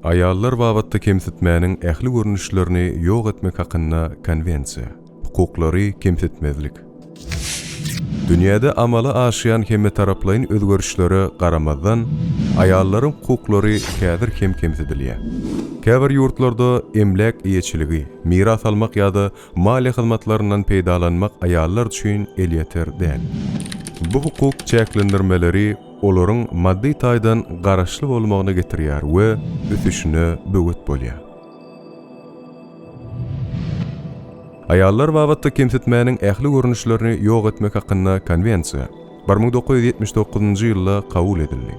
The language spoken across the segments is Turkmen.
Aýallar babatda kemsitmäniň ähli görnüşlerini ýok etmek hakynda Konwensiýa. Hukuklary kemsitmezlik. Dünýäde amala aşýan hemmetaraplaýyn özgerişlere garamazdan, aýallaryň hukuklary häzir hem kemsidilýär. Käbir ýurtlarda emläk eýeçiligi, miras almak ýa-da maliýe hyzmatlaryndan peýdalanmak aýallar üçin elýeter däl. Bu hukuk çäklendirmeleri olaryň maddy taýdan garaşly bolmagyna getirýär we ösüşine böwet bolýar. Aýallar babatda kemsitmäniň ähli görnüşlerini ýok etmek hakynda Konwensiýa bir müň dokuz ýüz ýetmiş dokuzynjy ýylda kabul edildi.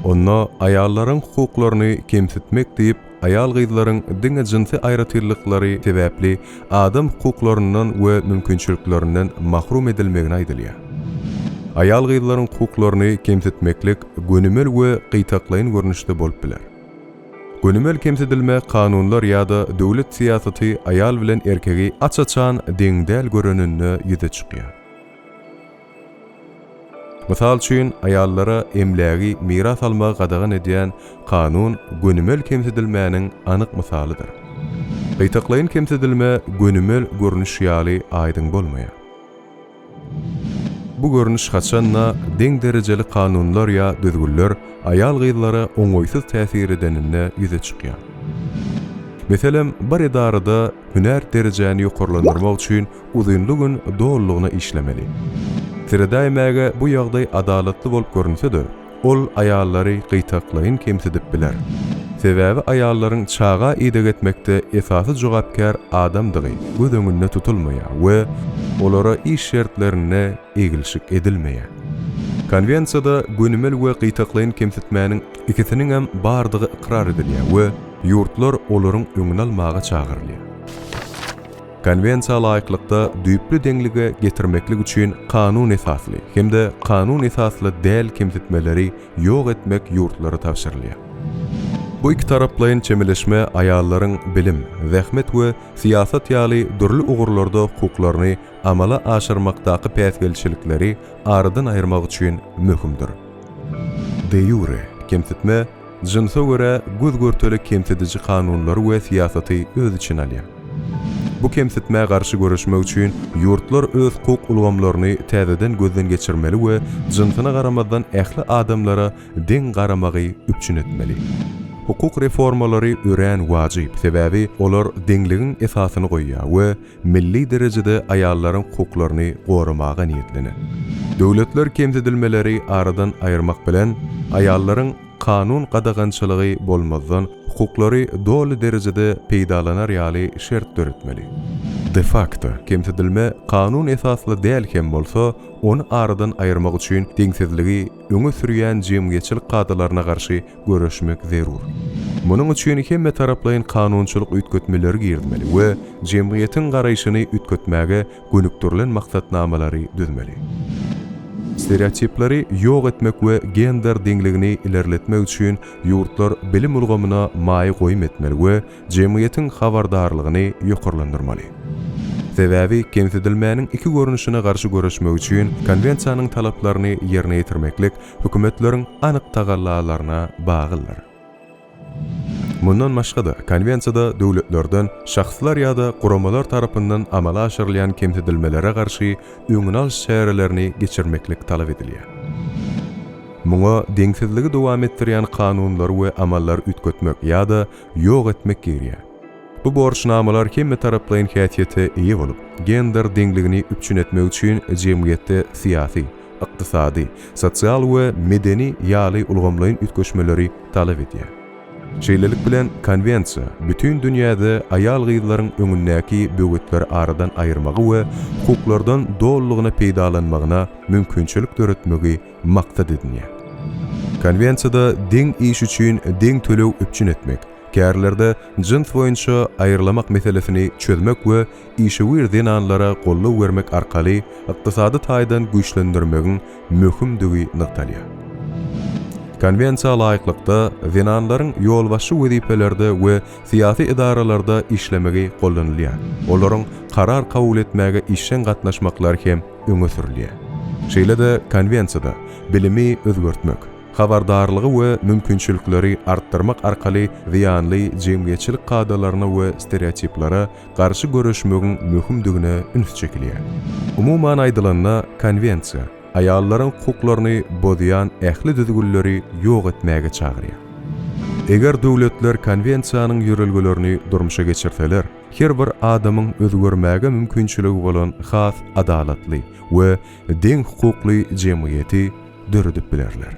Onda aýallaryň hukuklaryny kemsitmek diýip, aýal-gyzlaryň diňe jynsy aýratynlyklary sebäpli adam hukuklaryndan we mümkinçiliklerinden mahrum edilmegine aýdylýar. Aýal-gyzlaryň hukuklaryny kemsitmeklik gönümel we gytaklaýyn görnüşde bolup biler. Gönümel kemsidilme kanunlar ýa-da döwlet syýasaty aýal bilen erkegi aç-açan deň däl göreninde ýüze çykýar. Mysal üçin, aýallara emlägi miras almagy gadagan edýän kanun gönümel kemsidilmäniň anyk mysalydyr. Gytaklaýyn kemsidilme gönümel görnüş ýaly aýdyň bolmaýar. Bu görnüş haçan-da, deň derejeli kanunlar ýa düzgünler aýal-gyzlara oňaýsyz täsir edeninde ýüze çykýar. Meselem, bir edarada hünär derejäni ýokarlandyrmak üçin uzynly gün dolulygyna işlemeli. Seredäýmäge bu ýagdaý adalatly bolup görünse-de, Ol aýallary gytaklaýyn kemsidip biler. Sebäbi aýallaryň çaga ideg etmekde esasy jogapkär adamdygy göz öňünde tutulmaýar we olara iş şertlerinde eglşik edilmeýär. Konwensiýada gönümel we gytaklaýyn kemsitmäniň ikisiniňem bardygy ykrar edilýär we ýurtlar olaryň öňüni almaga çagyrylýar. Konwensiýa laýyklykda düýpli deňlige getirmeklik üçin kanun esasly hem-de kanun esasly däl kemsitmeleri ýok etmek ýurtlara tabşyrylýar. Bu ikitaraplaýyn çemeleşme aýallaryň bilim, zähmet we syýasat ýaly dürli ugurlarda hukuklaryny amala aşyrmakdaky päsgelçilikleri aradan aýyrmak üçin möhümdir. De ýure kemsitme, Jynsa görä göz-görtele kemsidiji kanunlary we syýasaty öz içine alýar. Bu kemsitmä garşy göreşmek üçin ýurtlar öz hukuk ulgamlaryny täzeden gözden geçirmeli we jynsyna garamazdan ähli adamlara deň garamagy üpjün etmeli. Hukuk reformalary örän wajyp, sebäbi olar deňligiň esasyny goýýar we milli derejede aýallaryň hukuklaryny goramaga niýetlenen. Döwletler kemsidilmeleri aradan aýyrmak bilen, aýallaryň kanun gadagançylygy bolmazdan hukuklary doly derejede peýdalanar ýaly şert döretmeli. De fakto kemsidilme kanun esasly däl hem bolsa, ony aradan aýyrmak üçin deňsizligi öňe sürýän jemgyýetçilik kadalaryna garşy göreşmek zerur. Munuň üçin hemmetaraplaýyn kanunçylyk üýtgetmeleri girizmeli we jemgyýetiň garaýşyny üýtgetmäge gönükdirilen maksatnamalary düzmeli. Stereotipleri ýok etmek we gender deňligini ilerletmek üçin ýurtlar bilim ulgamyna maýa goýum etmeli we jemgyýetiň habardarlygyny ýokarlandyrmaly. Sebäbi kemsidilmäniň iki görnüşine garşy göreşmek üçin Konwensiýanyň talaplaryny ýerine ýetirmeklik hökümetleriň anyk tagallalaryna baglydyr. Mundan başga-da, Konwensiýada döwletlerden, şahslar ýa-da guramalar tarapyndan amala aşyrylýan kemsidilmelere garşy öňüni alyş çärelerini geçirmeklik talap edilýär. Muňa deňsizligi dowam etdirýän kanunlary we amallary üýtgetmek ýa-da ýok etmek girýär. Bu borçnamalar hemmetaraplaýyn häsiýete eýe bolup, gender deňligini üpjün etmek üçin jemgyýetde syýasy, ykdysady, sosial we medeni ýaly ulgamlaýyn üýtgeşmeleri talap edýär. Şeýlelik bilen, Konwensiýa bütin dünýäde aýal-gyzlaryň öňündäki böwetleri aradan aýyrmagy we hukuklardan dolulygyna peýdalanmagyna mümkinçilik döretmegi maksat edinýär. Konwensiýada deň iş üçin deň töleg üpjün etmek, Kärlerde jyns boýunça aýrylamak meselesini çözmek we işewür zenanlara goldaw bermek arkaly ykdysady taýdan güýçlendirmegiň möhümdigi nygtalýar. Konwensiýa laýyklykda, zenanlaryň ýolbaşçy wezipelerde we syýasy edaralarda işlemegi goldanylýar, olaryň karar kabul etmäge işjeň gatnaşmaklary hem öňe sürülýär. Şeýle-de Konwensiýada bilimi özgertmek, habardarlygy we mümkinçilikleri artdyrmak arkaly zyýanly jemgyýetçilik kadalaryna we stereotiplara garşy göreşmegiň möhümdigine üns çekilýär. Umuman aýdylanda, Konwensiýa aýallaryň hukuklaryny bozýan ähli düzgünleri ýok etmäge çagyrýar. Eger döwletler Konwensiýanyň ýörelgelerini durmuşa geçirseler, her bir adamyň özgermäge mümkinçiligi bolan has adalatly we deň hukukly jemgyýeti döredip bilerler.